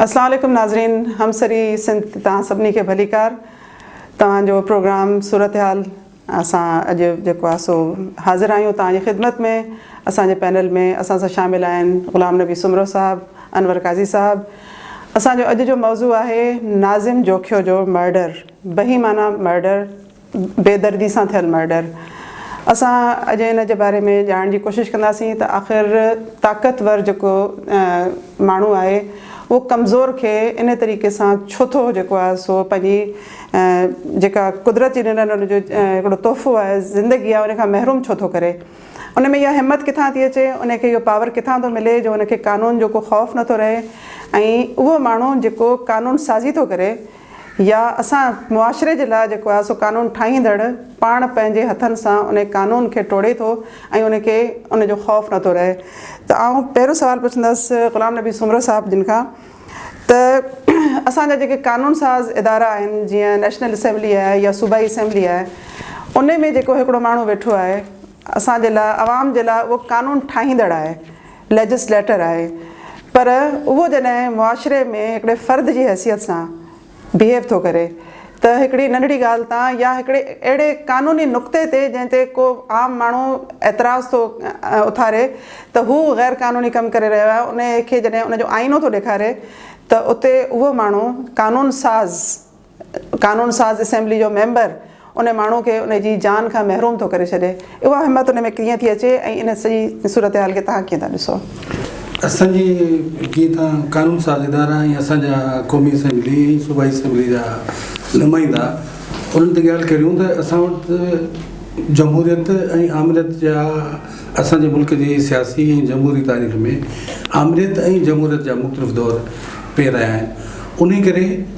اسلام عليڪم ناظرين همسري سنڌ تي توهان سڀني کي ڀليڪار توهان جو پروگرام صورتحال اسان اڄ جيڪو آهي سو حاضر آهيون توهان جي خدمت ۾ اسان جي پينل ۾ اسان سان شامل آهن غلام نبي سومرو صاحب انور قاضي صاحب اسان جو اڄ جو موضوع آهي ناظم جوکيو جو مرڊر بهيمانه مرڊر بيدردي سان ٿيل مرڊر اسان اڄ ان جي باري ۾ ڄاڻڻ جي ڪوشش ڪنداسين ته آخر طاقتور جيڪو ماڻهو آهي اهو ڪمزور کي انهي طريقي سان ڇو ٿو جيڪو آهي سو پنهنجي جيڪا قدرت جي ڏنل ان جو هڪڙو تحفو آهي زندگي آهي ان کان محروم ڇو ٿو ڪري ان ۾ اها همت ڪٿان ٿي اچي ان کي اهو پاور ڪٿان ٿو ملي جو ان کي قانون جو ڪو خوف نٿو رهي ۽ اهو ماڻهو جيڪو قانون سازي ٿو ڪري يا اسان معاشري جي لاء جيڪو آهي سو قانون ٺاهيندڙ پاڻ پنهنجي هٿن سان ان قانون کي ٽوڙي ٿو ۽ ان کي ان جو خوف نٿو رهي ته آئون پهريون سوال پڇندس غلام نبي سومرو صاحب جن کان ته اسان جا جيڪي قانون ساز ادارا آهن جيئن نيشنل اسيمبلي آهي يا صوبائي اسيمبلي آهي ان ۾ جيڪو هڪڙو ماڻهو ويٺو آهي اسان جي لاء عوام جي لاء اهو قانون ٺاهيندڙ آهي، Legislator، آهي پر اهو جڏهن معاشري ۾ هڪڙي فرد جي حيثيت سان Behave ٿو ڪري ته هڪڙي ننڍڙي ڳالهه تان يا هڪڙي اهڙي قانوني نقطي تي جنهن تي ڪو عام ماڻهو اعتراض ٿو اٿاري ته هو غير قانوني ڪم ڪري رهيو آهي انهي کي جڏهن ان جو آئينو ٿو ڏيکاري ته اتي اهو ماڻهو قانون ساز قانون ساز اسيمبلي جو ميمبر ان ماڻهو کي ان جي جان کان محروم ٿو ڪري ڇڏي. اها همت ان ۾ ڪيئن ٿي اچي ۽ ان سڄي صورتحال کي توهان ڪيئن ٿا ڏسو؟ اسان جي جيئن ته قانون ساز ادارا ۽ اسان جا قومي اسيمبلي ۽ صوبائي اسيمبلي جا نمائندا انهن تي ڳالهه ڪريون ته اسان وٽ جمهوريت ۽ آمريت جا اسان جي ملڪ جي سياسي ۽ جمهوري تاريخ ۾ آمريت ۽ جمهوريت جا مختلف دور پي رهيا آهن انهي ڪري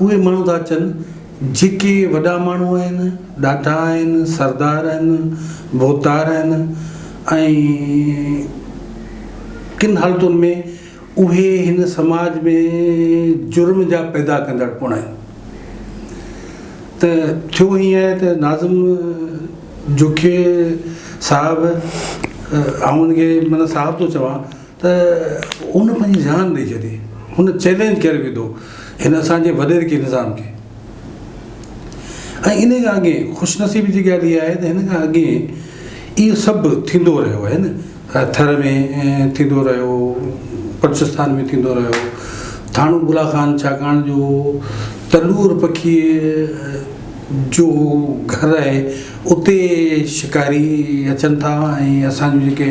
اهي ماڻهو ٿا اچن جيڪي وڏا ماڻهو آهن، ڏاڍا آهن، سردار آهن، ڀوتار آهن ۽ ڪن حالتن ۾ اهي هن سماج ۾ جرم جا پيدا ڪندڙ پڻ آهن. ته ٿيو ائين آهي ته ناظم جوکي صاحب آئون هن کي معنيٰ صاحب ٿو چوان. ته هن پنهنجي جان ڏئي ڇڏي. هن چئلينج ڪري وڌو هن اسان جي وڏيري کي نظام کي. ۽ انهي کان اڳي خوش نصيبي جي ڳالهه اها آهي ته هن کان اڳي اهو سڀ ٿيندو رهيو آهي نه ٿر ۾ ٿيندو رهيو بلوچستان ۾ ٿيندو رهيو ٿاڻو بلا خان ڇاڪاڻ جو تلور پکيء جو گهر آهي اتي شڪاري اچن ٿا ۽ اسان جون جيڪي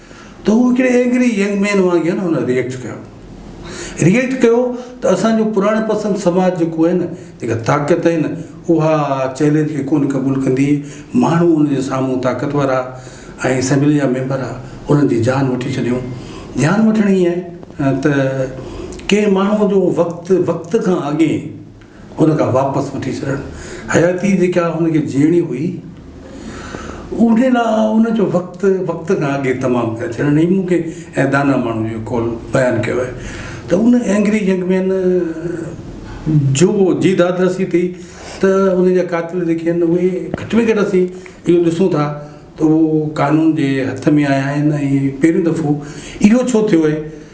ته هو هڪڙي اينگري ينگ مين وانگي هن هن ريئيڪٽ ڪيو ريئيڪٽ ڪيو ته اسان جو پراڻي پسند سماج جيڪو آهي نه جيڪا طاقت آهي نه اها چئلينج کي ڪونه قبول ڪندي ماڻهو ان جي سامهون طاقتور آ ۽ اسيمبلي جا ميمبر آ انهن جي جان وٺي ڇڏيون جان وٺڻي آهي ته ڪنهن ماڻهو جو وقت وقت کان اڳي هن کان واپس وٺي ڇڏڻ حياتي جيڪا هن کي جيئڻي هئي انهي لا ان جو وقت وقت کان اڳي تمام ڪري ڇڏڻ هي مون کي ۽ داناء ماڻهو جو قول بيان ڪيو آهي ته ان اينگري ينگ مين جو جي داد رسي ٿي ته ان جا قاتل جيڪي آهن اهي گهٽ ۾ گهٽ اسين اهو ڏسون ٿا ته اهو قانون جي هٿ ۾ آيا آهن ۽ پهريون دفعو اهو ڇو ٿيو آهي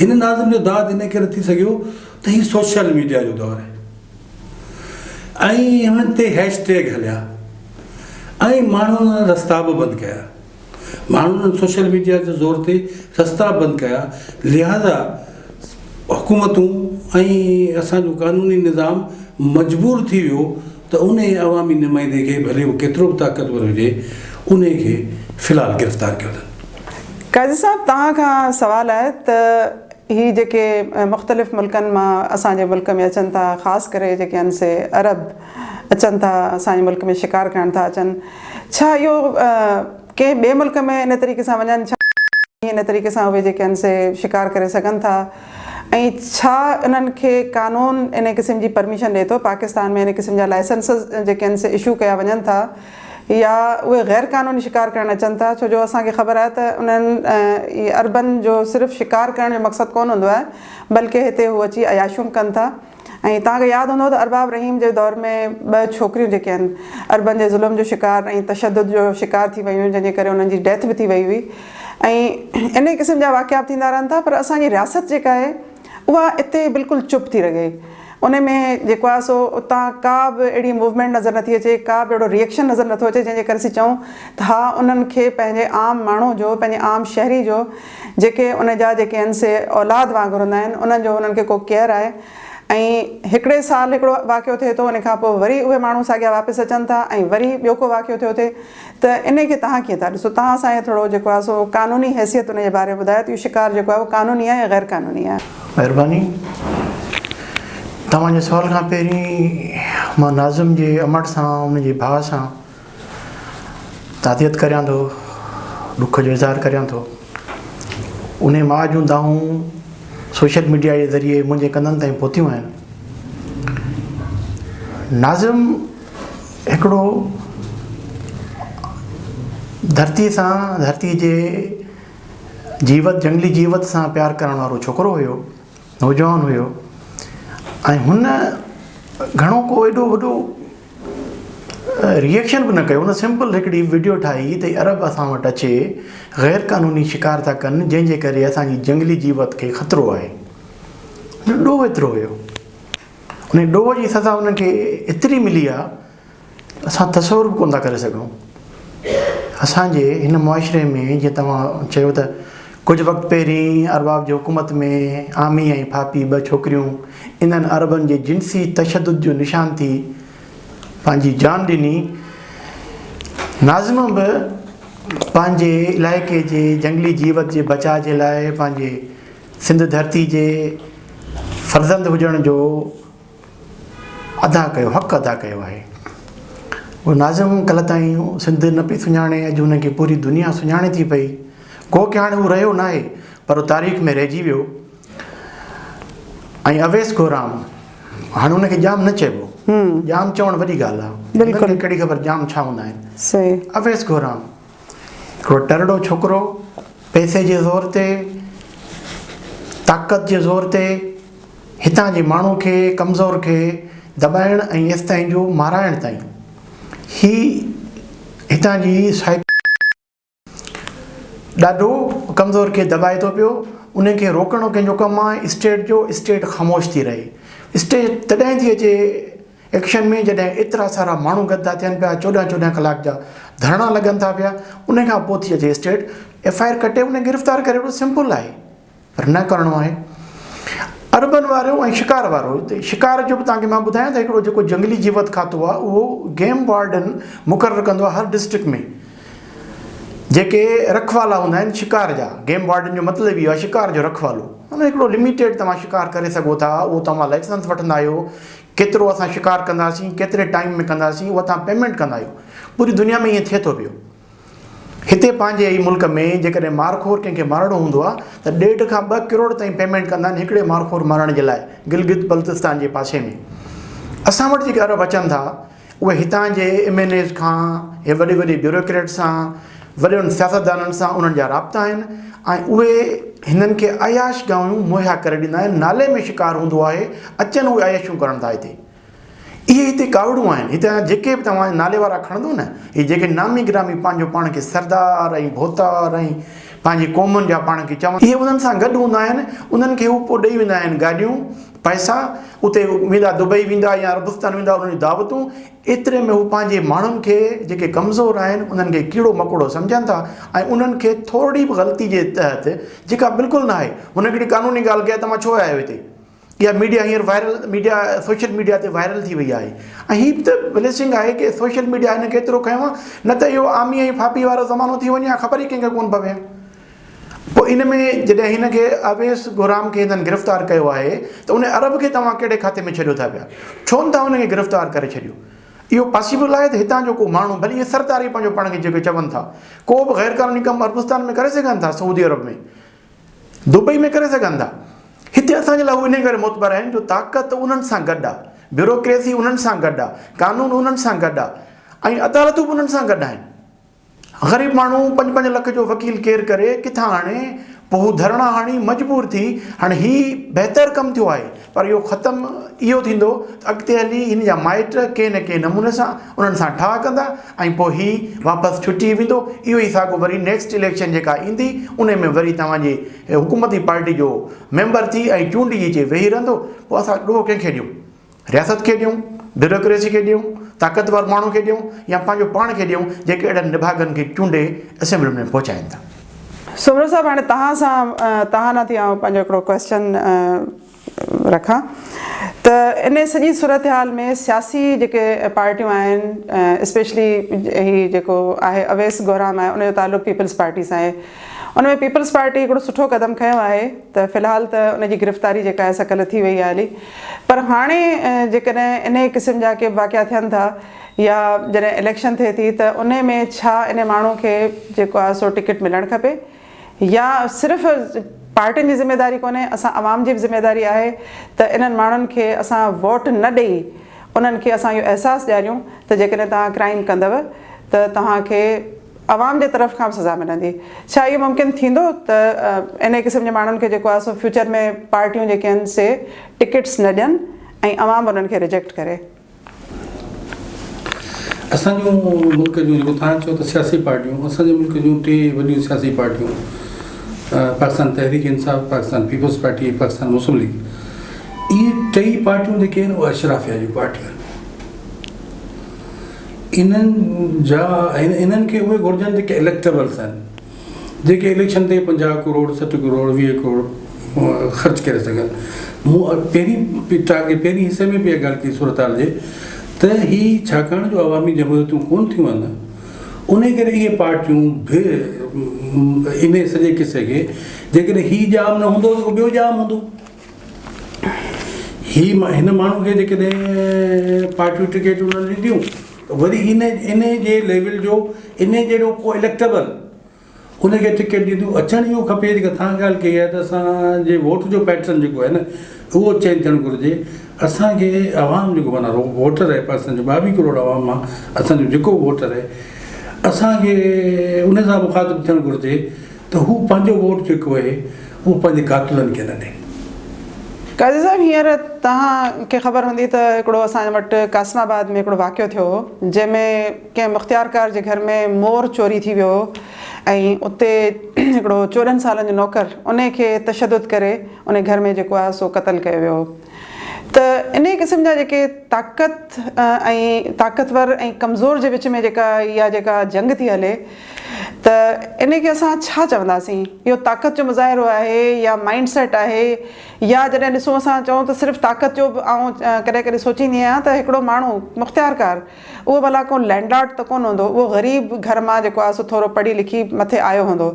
هن ناظم جو داد ان ڪري ٿي سگهيو ته هي سوشل ميڊيا جو دور هي ۽ هن تي هيش ٽيگ هليا ۽ ماڻهن رستا به بند ڪيا ماڻهن سوشل ميڊيا جي زور تي رستا بند ڪيا لهذا حڪومتون ۽ اسان جو قانوني نظام مجبور ٿي ويو ته انهيء عوامي نمائندي کي ڀلي هو ڪيترو به طاقتور هجي انهيء کي في الحال گرفتار ڪيو اٿن. قاضي صاحب توهان کان سوال آهي ته هي جيڪي مختلف ملڪن مان اسان جي ملڪ ۾ اچن ٿا خاص ڪري جيڪي آهن سي عرب اچن ٿا اسان جي ملڪ ۾ شڪار ڪرڻ ٿا اچن ڇا اهو ڪنهن ٻئي ملڪ ۾ ان طريقي سان وڃن ڇا ان طريقي سان اهي جيڪي آهن سي شڪار ڪري سگهن ٿا. ۽ ڇا انهن کي قانون ان قسم جي پرميشن ڏئي ٿو. پاڪستان ۾ ان قسم جا لائسنسز جيڪي آهن سي اشو ڪيا وڃن ٿا يا اهي غير قانوني شڪار ڪرڻ اچن ٿا ڇو جو اسان کي خبر آهي ته انهن اربن جو صرف شڪار ڪرڻ جو مقصد ڪونه هوندو آهي بلڪه هتي هو اچي عياشيون ڪن ٿا. ۽ توهان کي ياد هوندو ته ارباب رحيم جي دور ۾ ٻه ڇوڪريون جيڪي آهن عربن جي ظلم جو شڪار ۽ تشدد جو شڪار ٿي ويون هيون جنهن جي ڪري انهن جي ڊيٿ به ٿي وئي هئي ۽ انهي قسم جا واقعا به ٿيندا رهن ٿا پر اسان جي رياست جيڪا آهي اها اتي بلڪل چپ ٿي رگهي انهي ۾ جيڪو آهي سو اتان ڪا به اهڙي موومينٽ نظر نٿي اچي ڪا به اهڙو ريئڪشن نظر نٿو اچي جنهن جي ڪري اسين چئون ته ها انهن کي پنهنجي عام ماڻهو جو پنهنجي عام شهري جو جيڪي ان جا جيڪي آهن سي اولاد وانگر هوندا آهن انهن جو انهن کي ڪو ڪيئر آهي ۽ هڪڙي سال هڪڙو واقعو ٿئي ٿو ان کان پوء وري اهي ماڻهو ساڳيا واپس اچن ٿا ۽ وري ٻيو ڪو واقعو ٿيو ٿئي ته انهي کي تهان ڪيئن ٿا ڏسو تهان اسان کي ٿورو جيڪو آهي سو قانوني حيثيت ان جي باري ۾ ٻڌايو ته اهو شڪار جيڪو آهي اهو قانوني آهي يا غير قانوني آهي. مهرباني. توهان جي سوال کان پهرين مان ناظم جي امڙ سان ان جي ڀاء سان تعزيت ڪريان ٿو، ڏک جو اظهار ڪريان ٿو. انهيء ماء جون دانهون سوشل ميڊيا جي ذريعي منهنجي ڪنن تائين پهتيون آهن. ناظم هڪڙو ڌرتيء سان، ڌرتيء جي جيوت، جهنگلي جيوت سان پيار ڪرڻ وارو ڇوڪرو هيو، نوجوان هيو ۽ هن گهڻو ڪو ايڏو وڏو ريئڪشن به نه ڪيو هن سمپل هڪڙي وڊيو ٺاهي ته عرب اسان وٽ اچي غير قانوني شڪار ٿا ڪن جنهن جي ڪري اسان جي جنگلي جيوت کي خطرو آهي هن ڏوهه ايترو هيو ان ڏوهه جي سزا هن کي ايتري ملي آهي اسان تصور به ڪون ٿا ڪري سگهون اسان جي هن معاشري ۾ جيئن توهان چيو ته ڪجهه وقت پهرين ارباب جي حڪومت ۾ عامي ۽ ڦاپي ٻه ڇوڪريون انهن عربن جي جنسي تشدد جو نشان ٿي پنهنجي جان ڏني. ناظمه به پنهنجي علائقي جي جنگلي جيوت جي بچاء جي لاء پنهنجي سنڌ ڌرتي جي فرزند هجڻ جو ادا ڪيو حق ادا ڪيو آهي. هو ناظمه ڪلهه تائين سنڌ نه پئي سڃاڻي اڄ هن کي پوري دنيا سڃاڻي ٿي پئي. گو ڪي هاڻي هو رهيو ناهي پر تاريخ ۾ رهجي ويو ۽ اويس گورام هاڻي ان کي ڄام نه چئبو ڄام چوڻ وڏي ڳالهه آهي بلڪل انکي ڪهڙي خبر ڄام ڇا هوندا آهن صحيح اويس گورام هڪڙو ٽرڙو ڇوڪرو پئسي جي زور تي طاقت جي زور تي هتان جي ماڻهو کي ڪمزور کي دٻائڻ ۽ ايستائين جو مارائڻ تائين هي هتان جي سائڪ ڏاڍو ڪمزور کي دٻائي ٿو پيو انهن کي روڪڻو ڪنهن جو ڪم آهي اسٽيٽ جو اسٽيٽ خاموش ٿي رهي اسٽيٽ تڏهن ٿي اچي ايڪشن ۾ جڏهن ايترا سارا ماڻهو گڏ ٿا ٿين پيا چوڏهن چوڏهن ڪلاڪ جا ڌرڻا لڳن ٿا پيا ان کان پوء ٿي اچي اسٽيٽ ايف آء آر ڪٽي انهن کي گرفتار ڪري وٺو سمپل آهي پر نه ڪرڻو آهي. عربن وارو ۽ شڪار وارو هتي شڪار جو به توهان کي مان ٻڌايان ته هڪڙو جيڪو جنگلي جيوت کاتو آهي اهو گيم وارڊن مقرر ڪندو آهي هر ڊسٽرڪٽ ۾ جيڪي رکوالا هوندا آهن شڪار جا گيم وارڊن جو مطلب اهو آهي شڪار جو رکوالو ان هڪڙو لميٽيڊ توهان شڪار ڪري سگهو ٿا اهو توهان لائسنس وٺندا آهيو ڪيترو اسان شڪار ڪنداسين ڪيتري ٽائيم ۾ ڪنداسين اهو توهان پيمنٽ ڪندا آهيو پوري دنيا ۾ ائين ٿئي ٿو پيو هتي پنهنجي ئي ملڪ ۾ جيڪڏهن مارخور ڪنهن کي مارڻو هوندو آهي ته ڏيڍ کان ٻه ڪروڙ تائين پيمينٽ ڪندا آهن هڪڙي مارخور مارڻ جي لاء گلگت بلتستان جي پاسي ۾ اسان وٽ جيڪي عرب اچن ٿا اهي هتان جي ايم اين ايز کان هي وڏي وڏي بيوروڪريٽ سان وڏن سياستدانن سان انهن جا رابطا آهن ۽ اهي هنن کي عياش گاهيون مهيا ڪري ڏيندا آهن نالي ۾ شڪار هوندو آهي اچن اهي عيشون ڪرڻ ٿا هتي اهي هتي ڪاوڙون آهن. هتان جا جيڪي به توهان جا نالي وارا کڻندو نه، اهي جيڪي نامي گرامي پنهنجو پاڻ کي سردار ۽ ڀوتار ۽ پنهنجي قومن جا پاڻ کي چون، اهي انهن سان گڏ هوندا آهن، انهن کي هو پوء ڏئي ويندا آهن گاڏيون، پئسا، اتي ويندا دبئي ويندا يا عربستان ويندا انهن جون دعوتون، ايتري ۾ هو پنهنجي ماڻهن کي جيڪي ڪمزور آهن انهن کي ڪيڙو مڪوڙو سمجهن ٿا ۽ انهن کي ٿورڙي به غلطي جي تحت جيڪا بلڪل ناهي، هن هڪڙي قانوني ڳالهه ڪئي ته مان ڇو آيو هتي؟ اها ميڊيا هينئر وائرل ميڊيا سوشل ميڊيا تي وائرل ٿي وئي آهي ۽ هي به ته بليسنگ آهي ڪي سوشل ميڊيا هن کي ايترو کنيو آهي نه ته اهو عامي ۽ ڦاپي وارو زمانو ٿي وڃي ها خبر ئي ڪنهن کي ڪونه پوي ها پوء ان ۾ جڏهن هن کي اويس گهرام کي هندن گرفتار ڪيو آهي ته ان عرب کي توهان ڪهڙي کاتي ۾ ڇڏيو ٿا پيا ڇو نه ٿا هن کي گرفتار ڪري ڇڏيو اهو پاسيبل آهي ته هتان جو ڪو ماڻهو ڀلي اهي سردار ئي پنهنجو پاڻ کي جيڪي چون ٿا ڪو به غيرقانوني ڪم عربستان ۾ ڪري سگهن ٿا سعودي عرب ۾ دبئي ۾ ڪري سگهن ٿا. هتي اسان جي لاء هو انهي ڪري معتبر آهن جو طاقت انهن سان گڏ آهي، بيوروڪريسي انهن سان گڏ آهي، قانون انهن سان گڏ آهي ۽ عدالتون به انهن سان گڏ آهن. غريب ماڻهو پنج پنج لک جو وڪيل ڪير ڪري، ڪٿان آڻي؟ پوء هو ڌرڻا هڻي مجبور ٿي، هاڻي هي بهتر ڪم ٿيو آهي پر اهو ختم اهو ٿيندو ته اڳتي هلي هن جا مائٽ ڪنهن نه ڪنهن نموني سان انهن سان ٺاهه ڪندا ۽ پوء هي واپس ڇٽي ويندو اهو ئي ساڳو وري نيڪسٽ اليڪشن جيڪا ايندي انهي ۾ وري توهان جي حڪومتي پارٽي جو ميمبر ٿي ۽ چونڊجي اچي ويهي رهندو پوء اسان ڏوهه ڪنهن کي ڏيون رياست کي ڏيون بيوروڪريسي کي ڏيون طاقتور ماڻهو کي ڏيون يا پنهنجو پاڻ کي ڏيون جيڪي اهڙن نڀاڳن کي چونڊي اسيمبلين ۾ پهچائين ٿا. سومرو صاحب هاڻي توهان سان توهان ڏانهن ٿي آئون پنهنجو هڪڙو ڪويسچن رکان ته ان سڄي صورتحال ۾ سياسي جيڪي پارٽيون آهن اسپيشلي هي جيڪو آهي اويس گهرام آهي ان جو تعلق پيپلز پارٽي سان آهي ان ۾ پيپلز پارٽي هڪڙو سٺو قدم کنيو آهي ته في الحال ته ان جي گرفتاري جيڪا آهي سا ڪلهه ٿي وئي آهي هلي پر هاڻي جيڪڏهن انهي قسم جا ڪي واقعا ٿين ٿا يا جڏهن اليڪشن ٿئي ٿي ته انهي ۾ ڇا انهي ماڻهو کي جيڪو آهي سو ٽڪيٽ ملڻ کپي يا صرف پارٽين جي ذميداري ڪونهي اسان عوام جي به ذميداري آهي ته انهن ماڻهن کي اسان ووٽ نه ڏئي انهن کي اسان اهو احساس ڏياريون ته جيڪڏهن توهان ڪرائيم ڪندو ته توهان کي عوام جي طرف کان به سزا ملندي ڇا اهو ممڪن ٿيندو ته انهي قسم جي ماڻهن کي جيڪو آهي سو فيوچر ۾ پارٽيون جيڪي آهن سي ٽڪيٽس نه ڏين ۽ عوام انهن کي ريجيڪٽ ڪري. اسان جون ملڪ جون جيڪو تھان چيو ته سياسي پارٽيون اسان جي ملڪ جون ٽي وڏيون سياسي پارٽيون Pakistan Tehreek Insaf Pakistan Peoples Party ۽ Pakistan Muslim League اھي ٽئي پارٽيون جيڪي آھن اھي اشرافيا جون پارٽيون آھن انھن جا انھن کي اھي گھرجن جيڪي اليڪٽبلز آھن جيڪي اليڪشن تي پنجاهه ڪروڙ سٺ ڪروڙ ويهه ڪروڙ خرچ ڪري سگهن مون پهرين ٽارگيٽ پهرين حصي ۾ به اها ڳالهه ڪئي صورتحال جي ته هي ڇاڪاڻ جو عوامي جمهوريتون ڪون ٿيون آهن انهي ڪري اهي پارٽيون به انهي سڄي قصي کي جيڪڏهن هي ڄام نه هوندو ته ٻيو ڄام هوندو هي هن ماڻهو کي جيڪڏهن پارٽيون ٽڪيٽون نه ڏينديون ته وري هن انهي جي ليول جو انهي جهڙو ڪو اليڪٽبل ان کي ٽڪيٽ ڏيندو اچڻ اهو کپي جيڪا تهان ڳالهه ڪئي آهي ته اسان جي ووٽ جو پيٽرن جيڪو آهي نه اهو چينج ٿيڻ گهرجي اسان کي عوام جيڪو معنيٰ رڳو ووٽ رهي پر اسان جو ٻاويهه ڪروڙ عوام مان اسان جو جيڪو ووٽ رهي اسان کي ان سان مخاطب ٿيڻ گهرجي ته هو پنهنجو ووٽ جيڪو اهي اهو پنهنجي قاتلن کي نه ڏي. قاضي صاحب هينئر توهان کي خبر هوندي ته هڪڙو اسان وٽ قاسم آباد ۾ هڪڙو واقعو ٿيو هو جنهن ۾ ڪنهن مختيارڪار جي گهر ۾ مور چوري ٿي ويو هو ۽ اتي هڪڙو چوڏهن سالن جو نوڪر انهي کي تشدد ڪري انهي گهر ۾ جيڪو آهي سو قتل ڪيو ويو هو ته انهي قسم جا جيڪي طاقت ۽ طاقتور ۽ ڪمزور جي وچ ۾ جيڪا اها جيڪا جنگ ٿي هلي ته انهي کي اسان ڇا چونداسين؟ اهو طاقت جو مظاهرو آهي يا مائينڊ سيٽ آهي يا جڏهن ڏسون اسان چئون ته صرف طاقت جو به آئون ڪڏهن ڪڏهن سوچيندي آهيان ته هڪڙو ماڻهو مختيارڪار اهو ڀلا ڪو لينڊ لارڊ ته ڪونه هوندو اهو غريب گهر مان جيڪو آهي سو ٿورو پڙهي لکي مٿي آيو هوندو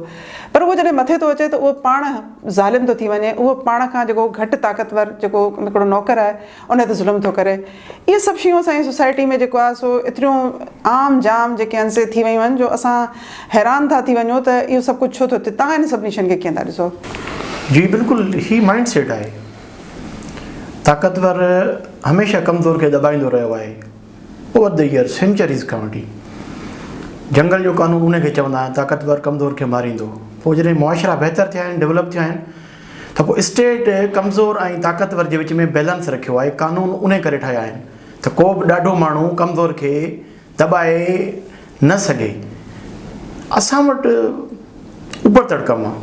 پر اهو جڏهن مٿي ٿو اچي ته اهو پاڻ ظالم ٿو ٿي وڃي اهو پاڻ کان جيڪو گهٽ طاقتور جيڪو هڪڙو نوڪر آهي ان تي ظلم ٿو ڪري. اهي سڀ شيون اسان جي سوسائٽي ۾ جيڪو آهي سو ايتريون عام جام جيڪي آهن سي ٿي ويون آهن جو اسان حيران ٿا ٿي وڃون ته اهو سڀ ڪجهه ڇو ٿو ٿئي. توهان انهن سڀني شين کي ڪيئن ٿا ڏسو؟ جي بلڪل هي مائنڊ سيٽ آهي. طاقتور هميشه ڪمزور کي دٻائيندو رهيو آهي اوور دي ايئرز سينچريز کان وٺي. جنگل جو قانون ان کي چوندا آهن طاقتور ڪمزور کي ماريندو. پوء جڏهن معاشرا بهتر ٿيا آهن ڊولپ ٿيا آهن. ته پوء اسٽيٽ ڪمزور ۽ طاقتور جي وچ ۾ بيلنس رکيو آهي، قانون انهي ڪري ٺاهيا آهن ته ڪو به ڏاڍو ماڻهو ڪمزور کي دٻائي نه سگهي، اسان وٽ اوپرتڙ ڪم آهي،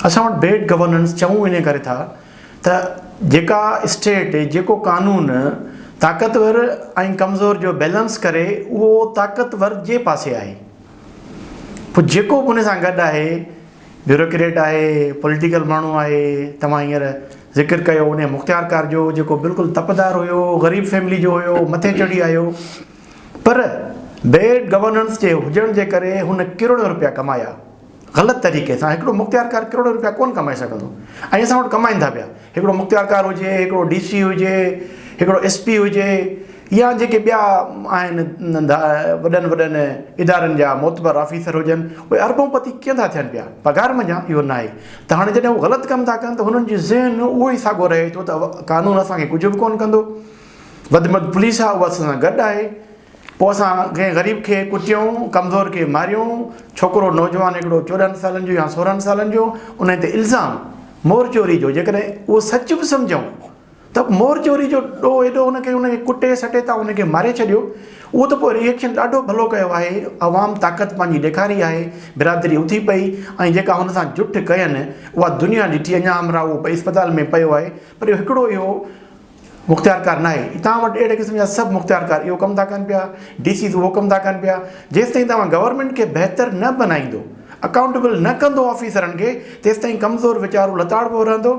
اسان وٽ بيڊ گورننس چئون انهي ڪري ٿا ته جيڪا اسٽيٽ جيڪو قانون طاقتور ۽ ڪمزور جو بيلنس ڪري اهو طاقتور جي پاسي آهي، پوء جيڪو به انهي سان گڏ آهي. بيوروڪريٽ آهي، پوليٽيڪل ماڻهو آهي، توهان هينئر ذڪر ڪيو انهيء مختيارڪار جو، جيڪو بلڪل تپدار هيو، غريب فيملي جو هيو، مٿي چڙهي آيو، پر بيڊ گورننس جي هجڻ جي ڪري هن ڪروڙين روپيا ڪمايا، غلط طريقي سان، هڪڙو مختيارڪار ڪروڙين روپيا ڪونه ڪمائي سگهندو ۽ اسان وٽ ڪمائيندا پيا. هڪڙو مختيارڪار هجي، هڪڙو ڊي سي هجي، هڪڙو ايس پي هجي يا جيڪي ٻيا آهن ننڍا وڏن وڏن ادارن جا معتبر آفيسر هجن اهي اربون پتي ڪيئن ٿا ٿين پيا پگهار منجهان اهو ناهي ته هاڻي جڏهن هو غلط ڪم ٿا ڪن ته هنن جي ذهن اهو ئي ساڳو رهي ٿو ته قانون اسان کي ڪجهه به ڪونه ڪندو وڌ مد پوليس آهي اها اسان سان گڏ آهي. پوء اسان ڪنهن غريب کي ڪٽيون، ڪمزور کي ماريون، ڇوڪرو نوجوان هڪڙو چوڏهن سالن جو يا سورهن سالن جو، انهي تي الزام مور چوري جو، جيڪڏهن اهو سچ به سمجهون ته مور چوري جو ڏوهه ايڏو هن کي ان کي ڪٽي سٽي تان ان کي ماري ڇڏيو، اهو ته پوء ريئڪشن ڏاڍو ڀلو ڪيو آهي، عوام طاقت پنهنجي ڏيکاري آهي، برادري اٿي پئي ۽ جيڪا هن سان جٺ ڪين اها دنيا ڏٺي، اڃا همراهه اهو اسپتال ۾ پيو آهي پر اهو هڪڙو اهو. مختيارڪار ناهي، توهان وٽ اهڙي قسم جا سڀ مختيارڪار اهو ڪم ٿا ڪن پيا، ڊي سيز اهو ڪم ٿا ڪن پيا، جيستائين توهان گورنمينٽ کي بهتر نه بنائيندو، اڪائونٽيبل نه ڪندو آفيسرن کي، تيستائين ڪمزور ويچارو لتاڙبو رهندو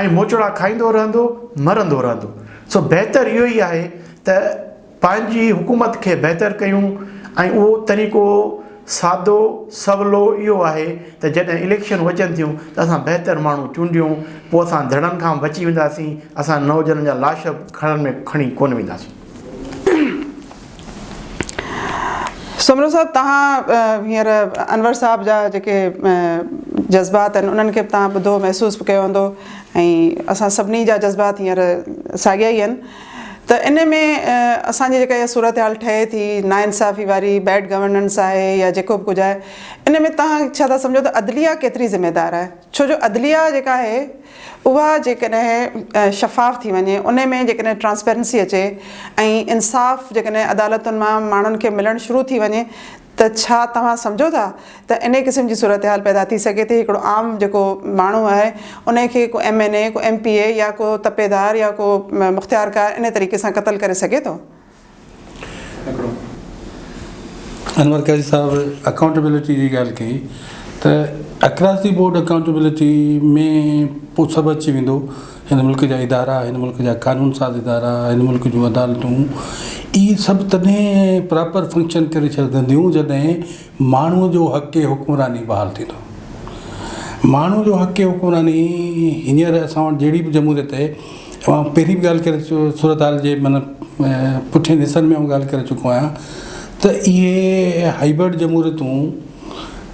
۽ موچڙا کائيندو رهندو، مرندو رهندو، سو بهتر اهو ئي آهي ته. پنهنجي حڪومت کي بهتر ڪيون ۽ اهو طريقو سادو سولو اهو آهي ته جڏهن اليڪشنون اچن ٿيون ته اسان بهتر ماڻهو چونڊيون پوء اسان ڌڙن کان به بچي وينداسين اسان نوجوانن جا لاش به کڻن ۾ کڻي ڪونه وينداسين. سومرو صاحب توهان هينئر انور صاحب جا جيڪي جذبات آهن انهن کي به توهان ٻڌو محسوس به ڪيو هوندو ۽ اسان سڀني جا جذبات هينئر ساڳيا ئي آهن. ته ان ۾ اسان جي جيڪا اها صورتحال ٺهي ٿي ناانصافي واري بيڊ گورننس آهي يا جيڪو به ڪجهه آهي ان ۾ توهان ڇا ٿا سمجهو ته عدليه ڪيتري ذميوار آهي ڇو جو عدليه جيڪا آهي اها جيڪڏهن شفاف ٿي وڃي ان ۾ جيڪڏهن ٽرانسپيرنسي اچي ۽ انصاف جيڪڏهن عدالتن مان ماڻهن کي ملڻ شروع ٿي وڃي ته ڇا توهان سمجهو ٿا ته انهي قسم جي صورتحال پيدا ٿي سگهي ٿي هڪڙو عام جيڪو ماڻهو آهي انهي کي ڪو ايم اين اي ڪو ايم پي اي يا ڪو تپيدار يا ڪو مختيارڪار انهي طريقي سان قتل ڪري سگهي ٿو. انور قاضي صاحب اڪائونٽيبلٽي جي ڳالهه ڪئي ته اڪراس دي بورڊ اڪائونٽيبلٽي ۾ پوء سڀ اچي ويندو. هن ملڪ جا ادارا، هن ملڪ جا قانون ساز ادارا، هن ملڪ جون عدالتون اهي سڀ تڏهن پراپر فنڪشن ڪري سگهنديون جڏهن ماڻهو جو حق حڪمراني بحال ٿيندو. ماڻهو جو حق حڪمراني هينئر اسان وٽ جهڙي به جمهوريت آهي اوهان پهرين به ڳالهه ڪري صورتحال جي من پٺين حصن ۾ ڳالهه ڪري چڪو آهيان ته اهي هائبرڊ جمهوريتون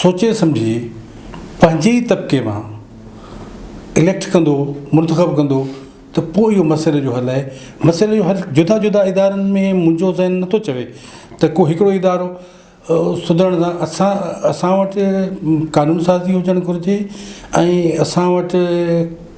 سوچي سمجهي پنهنجي ئي طبقي مان اليڪٽ ڪندو منتخب ڪندو ته پوء اهو مسئلي جو حل آهي مسئلي جو حل جدا جدا ادارن ۾ منهنجو ذهن نٿو چوي ته ڪو هڪڙو ادارو سڌرڻ سان اسان اسان وٽ قانون سازي هجڻ گهرجي ۽ اسان وٽ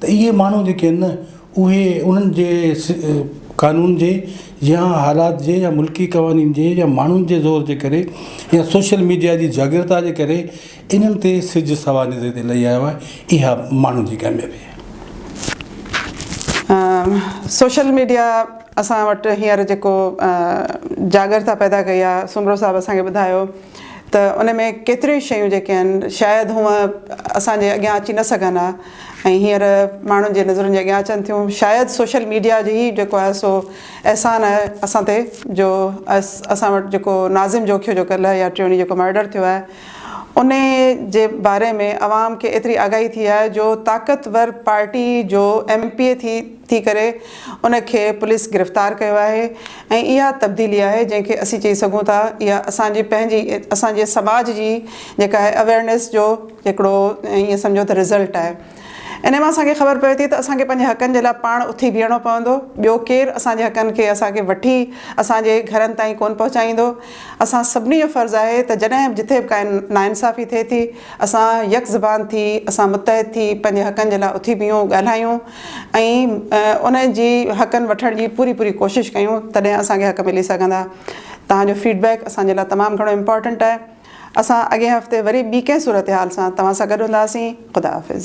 ته اهي ماڻهو جيڪي آهن نه اهي انهن جي قانون جي يا حالات جي يا ملڪي قوانين جي يا ماڻهن جي زور جي ڪري يا سوشل ميڊيا جي جاڳرتا جي ڪري انهن تي سج سوانح تي لهي آيو آهي اها ماڻهن جي ڪاميابي آهي. سوشل ميڊيا اسان وٽ هينئر جيڪو جاڳرتا پيدا ڪئي آهي سومرو صاحب اسان کي ٻڌايو ته ان ۾ ڪيتريون شيون جيڪي آهن شايد هونء اسان جي اڳيان اچي نه سگهن ها ۽ هينئر ماڻهن جي نظرن جي اڳيان اچن ٿيون شايد سوشل ميڊيا جي هي جيڪو آهي سو احسان آهي اسان تي جو اسان وٽ جيڪو ناظم جوکيو جو ڪلهه يا ٽيڻي جيڪو مرڊر ٿيو آهي ان جي باري ۾ عوام کي ايتري آگاهي ٿي آهي جو طاقتور پارٽي جو ايم پي اي ٿي ٿي ڪري ان کي پوليس گرفتار ڪيو آهي ۽ اها تبديلي آهي جنهن کي اسين چئي سگهون ٿا اها اسان جي پنهنجي اسان جي سماج جي جيڪا آهي اويرنيس جو هڪڙو ائين سمجهو ته رزلٽ آهي. انهي مان اسان کي خبر پوي ٿي ته اسان کي پنهنجي حقن جي لاء پاڻ اٿي بيهڻو پوندو. ٻيو ڪير اسان جي حقن کي اسان کي وٺي اسان جي گهرن تائين ڪونه پهچائيندو. اسان سڀني جو فرض آهي ته جڏهن به جٿي به ڪا ناانصافي ٿئي ٿي اسان يڪ زبان ٿي اسان متحد ٿي پنهنجي حقن جي لاء اٿي بيهون ڳالهايون ۽ انهن جي حقن وٺڻ جي پوري پوري ڪوشش ڪيون تڏهن اسان کي حق ملي سگهندا. توهان جو فيڊ بيڪ اسان جي لاء تمام گهڻو امپارٽنٽ آهي. اسان اڳئين هفتي وري ٻي ڪنهن صورتحال سان توهان سان گڏ هونداسين خدا حافظ.